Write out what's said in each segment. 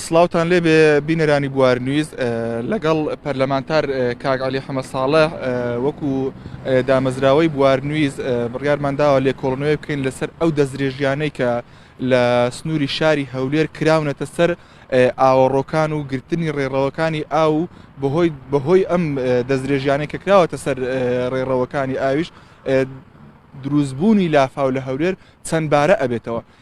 سلااوان لێ بێ بینەرانی بوار نویز لەگەڵ پەرلەمانتار کاک علی حەمە ساڵە وەکو دامەزراوەی بوار نویز بڕیارمانداوە لێ کۆڵنەوەی بکەین لەسەر ئەو دەستدرێژیانەی کە لە سنووری شاری هەولێر کراونەتە سەر ئاوەڕۆکان و گرتنی ڕێڕەوەکانی ئاو بەهۆی بەهۆی ئەم دەستدرێژیانەی کە کراوەتە سەر ڕێڕەوەکانی ئاویش دروستبوونی لافاو لە هەولێر چەند بارە ئەبێتەوە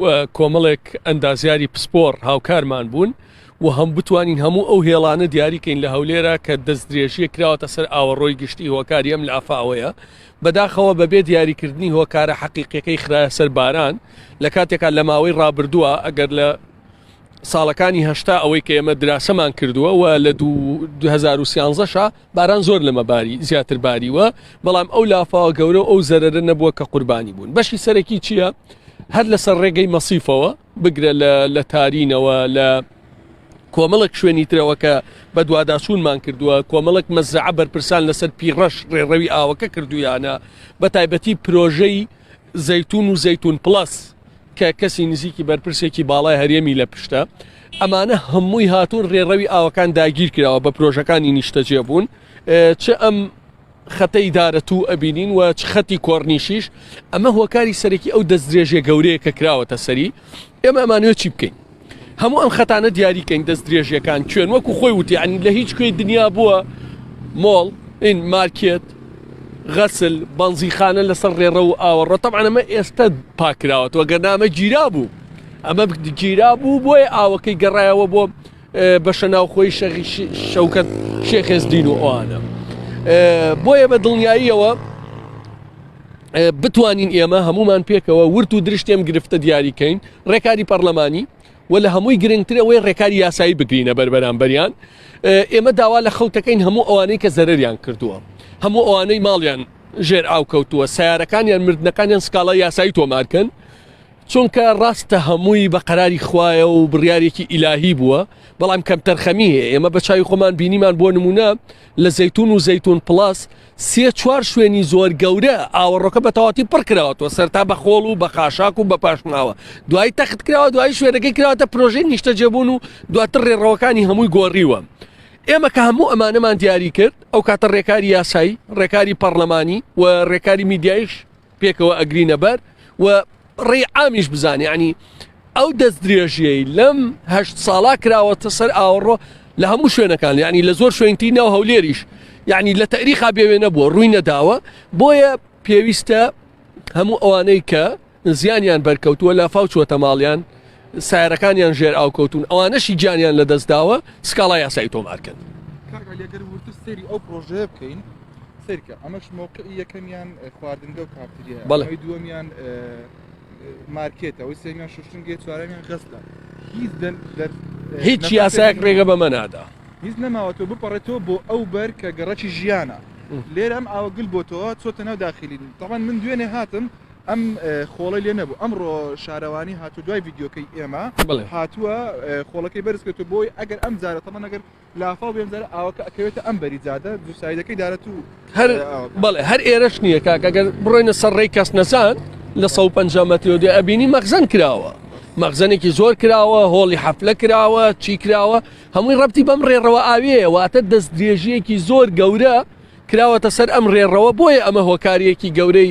و کۆمەڵێک ئەندازیاری پسپۆڕ هاوکارمان بوون و هەم بتوانین هەموو ئەو هێڵانە دیاریکەین لە هەولێرە کە دەست درێژیە کراوەتە سەر ئاوەڕۆی گشتی هۆکاری ئەم لافاوەیە بەداخەوە بەبێ دیاریکردنی هۆکارە حەقیقیەکەی خراە سەر باران لە کاتێکا لە ماوەی ڕابردووە ئەگەر لە ساڵەکانی هەشتا ئەوەی کە ئێمە دراسەمان کردووە و لە 2013 باران زۆر لەمە باری زیاتر باریوە بەڵام ئەو لافاوە گەورە و ئەو زەرەرە نەبووە کە قوربانی بوون بەشی سەرەکی چییە هەر لەسەر ڕێگەی مەسیفەوە بگرە لە تارینەوە لە کۆمەڵک شوێنی ترەوە کە بەدوواداچوونمان کردووە کۆمەڵک مەزرعە بەرپرسان لەسەر پیڕەش ڕێڕەوی ئاوەکە کردویانە بە تایبەتی پرۆژەی زەتون و زەتون پلس کە کەسی نزیکی بەرپرسێکی باڵای هەرێمی لە پشتە ئەمانە هەمووی هاتوون ڕێڕەوی ئاوەکان داگیر کراوە بە پرۆژەکانی نیشتەجێ بوون چ ئەم خەتە ئیدارە تو ئەبینین و چ خەتی کۆرنیشیش ئەمە هۆکاری سەرەکی ئەو دەستدرێژە گەورەیە کە کراوەتە سەری ئێمە ئەمانوێ چی بکەین هەموو ئەم خەتانە دیاری کەین دەست درێژیەکان کوێن وەکو خۆی وتی ئەنی لە هیچ کوێی دنیا بووە مۆڵ این مارکێت غەسل بەنزیخانە لەسەر ڕێڕە و ئاوەڕۆ تەمانەمە ئێستا پاکراوە تۆ گەنامە گیرا بوو ئەمە گیرا بوو بۆیە ئاوەکەی گەڕایەوە بۆ بەشە ناوخۆی شەغی شەوکەت شێخێزدین و ئەوانە بۆیە بە دڵنیاییەوە بتوانین ئێمە هەمومان پێکەوە ورت و درشتێم گرفتە دیاری کەین ڕێکاری پەرلەمانی و لە هەمووی گرنگترەوەی ڕێکاری یاسایی بگرینە بەربەرانبەریان ئێمە داوا لە خەوتەکەین هەموو ئەوانەی کە زەرریان کردووە هەموو ئەوانەی ماڵیان ژێر ئاو کەوتووە سیارەکانیان مردنەکانیان سکاڵای یاسایی تۆمارکەن چونکە ڕاستە هەمووی بە قەراری خوایە و بڕیارێکی ئیلاهی بووە بەڵام کەمتەرخەمی هەیە ئێمە بە چاوی خۆمان بینیمان بۆ نمونە لە زەتون و زەتون پلاس سێ چوار شوێنی زۆر گەورە ئاوەڕۆکە بە تەواتی پڕ کراوەتەوە سەرتا بە خۆڵ و بە خاشاک و بە پاشماوە دوای تەخت کراوە دوای شوێنەکەی کراوەتە پرۆژەی نیشتەجێبوون و دواتر ڕێڕەوەکانی هەمووی گۆڕیوە ئێمە کە هەموو ئەمانەمان دیاری کرد ئەو کاتە ڕێکاری یاسایی ڕێکاری پەرلەمانی و ڕێکاری میدیایش پێکەوە ئەگرینە بەر و ڕێی عامیش بزانێ یعنی ئەو دەست درێژیەی لەم هەشت ساڵا کراوەتە سەر ئاوەڕۆ لە هەموو شوێنەکان یعنی لە زۆر شوێنتی ناو هەولێریش یعنی لە تەریخا بێوێ نەبووە ڕووی نەداوە بۆیە پێویستە هەموو ئەوانەی کە زیانیان بەرکەوتووە لە فاوچوەتە ماڵیان سایەرەکانیان ژێر ئاو کەوتوون ئەوانەشی گیانیان لە دەستداوە سکاڵا یاسایی تۆمارکەن سری ئەو پرۆژەیە بکەین سرکە ئەمەش مووقع یەکەمیان خواردنگە و کافتریە بەڵی دووەمیان مارکێتە ئەوی سێمیان شوشتنگێ چوارەمیان غەستە هیچ هیچ یاسایەک ڕێگە بەمە نادا هیچ نەماوە تۆ بپەڕێتەوە بۆ ئەو بەر کە گەڕەکی ژیانە لێرەم ئاوەگل بۆ تۆ چۆتە ناو داخلی تەوان من دوێنێ هاتم ئەم خۆڵەی لێ نەبوو ئەمڕۆ شارەوانی هاتو دوای ڤیددیوکەی ئێمە هاتووە خۆڵەکەی بەرز کرد و بۆی ئەگەر ئەم جارە تەمە نەگەر لافاو بێنجار ئاوەکە ئەکەوێتە ئەم بەری جادە دووسایدەکەی دارەت و هەر بەڵێ هەر ئێرەش نییە کاکەگەر بڕۆینە سەر ڕێی کەس نەزان لە 150 مەترۆ دێ ئەبینی مەخزن کراوە مەخزنێکی زۆر کراوە هۆڵی حەفلە کراوە چی کراوە هەمووی ڕەتی بەم ڕێڕەوە ئاوێ واتە دەست درێژیەکی زۆر گەورە کراوەتە سەر ئەم ڕێڕەوە بۆیە ئەمە هۆکاریەکی گەورەی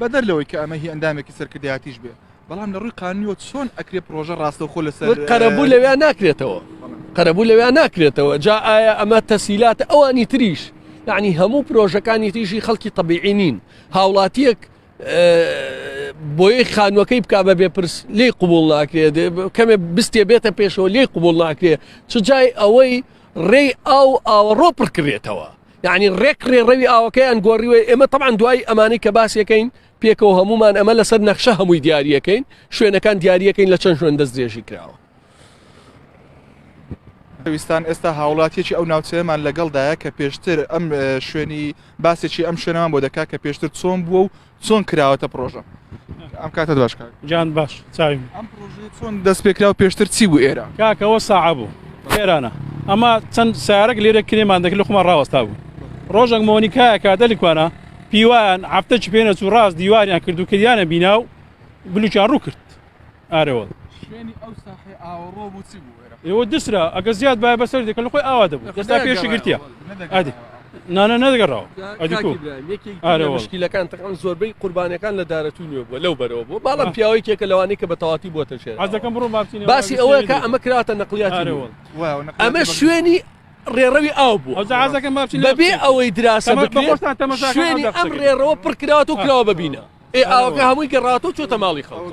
بەدەر لەوەی کە ئەمە هی ئەندامێکی سەرکردایەتیش بێ بەڵام لە ڕووی قانونیەوە چۆن ئەکرێ پرۆژە ڕاستەوخۆ لەسەر قەرەبوو لەوێ ناکرێتەوە قەرەبوو لەوێ ناکرێتەوە جا ئایا ئەمە تەسیلات ئەوانی تریش یعنی هەموو پرۆژەکانی تیژی خەڵکی طببیعی نین هاوڵاتیەک بۆی خانوەکەی بک بە بێپرس لی قوبول ناکرێت کەمێ بستێ بێتە پێشەوە لی قوبول ناکرێت چ جای ئەوەی ڕێی ئاو ئاوەڕۆ پڕکرێتەوە یعنی ڕێک ڕێ ڕەوی ئاوەکەیان گۆڕیوە ئێمە تەعاان دوای ئەمانی کە باسیەکەین پێکەوە هەمومان ئەمە لەسەر نەخشە هەمووی دیارریەکەین شوێنەکان دیارریەکەین لە چەند شوێن دەست درێژی کراوە ویستان ئێستا هاوڵاتیەکی ئەو ناوچەیەمان لەگەڵدایە کە پێشتر ئەم شوێنی باسێکی ئەم شوێنەوە بۆ دەکات کە پێشتر چۆن بووە و چۆن کراوەتە پرۆژە ئەم کاتە باش کاک جان باش چاویم ئەم پرۆژەی چۆن دەست پێکرا و پێشتر چی بوو ئێرە کاکەوە ساعە بوو ئێرانە ئەمە چەند سارەک لێرە کرێمان دەکرد لە خۆمان ڕاوەستا بوو ڕۆژێک مۆنیکایە کاتە لکوانە پیوان هەفتەکی پێنەچوو ڕاست دیواریان کرد و کردیانە بینا و بلوچیان ڕوو کرد ئارەوەڵ. شوێنی ئەو ساحەی ئاوەڕۆ بوو چی بوو ئێرە؟ ئێوە دسرا ئەگە زیاد بایە بەسەر دێ کە لە خۆی ئاوا دەبوو دەستا پێشی گرتیە ئەدی نانە نەدەگەڕاوە ئەدیکیلەکان تەقان زۆربەی قوربانەکان لە دارەتوو نوێ بووە لەو بەرەوە بوو باڵم پیاوەی کێکە لەوانی کە بە تەواتی بووە تەشێ ئازەکەم بڕۆ باسی ئەوەیە کە ئەمە کراتە نەقلیاتەوە ئەمە شوێنی ڕێڕەوی ئاو بوو ئەوزازەکەم بەبێ ئەوەی دراسە بکرێت شوێنی ئەم ڕێڕەوە پڕکراوە و کراوە ببینە ئێ ئاوەکە هەمووی گەڕاوەتەوە چۆتە ماڵی خەڵکەوە.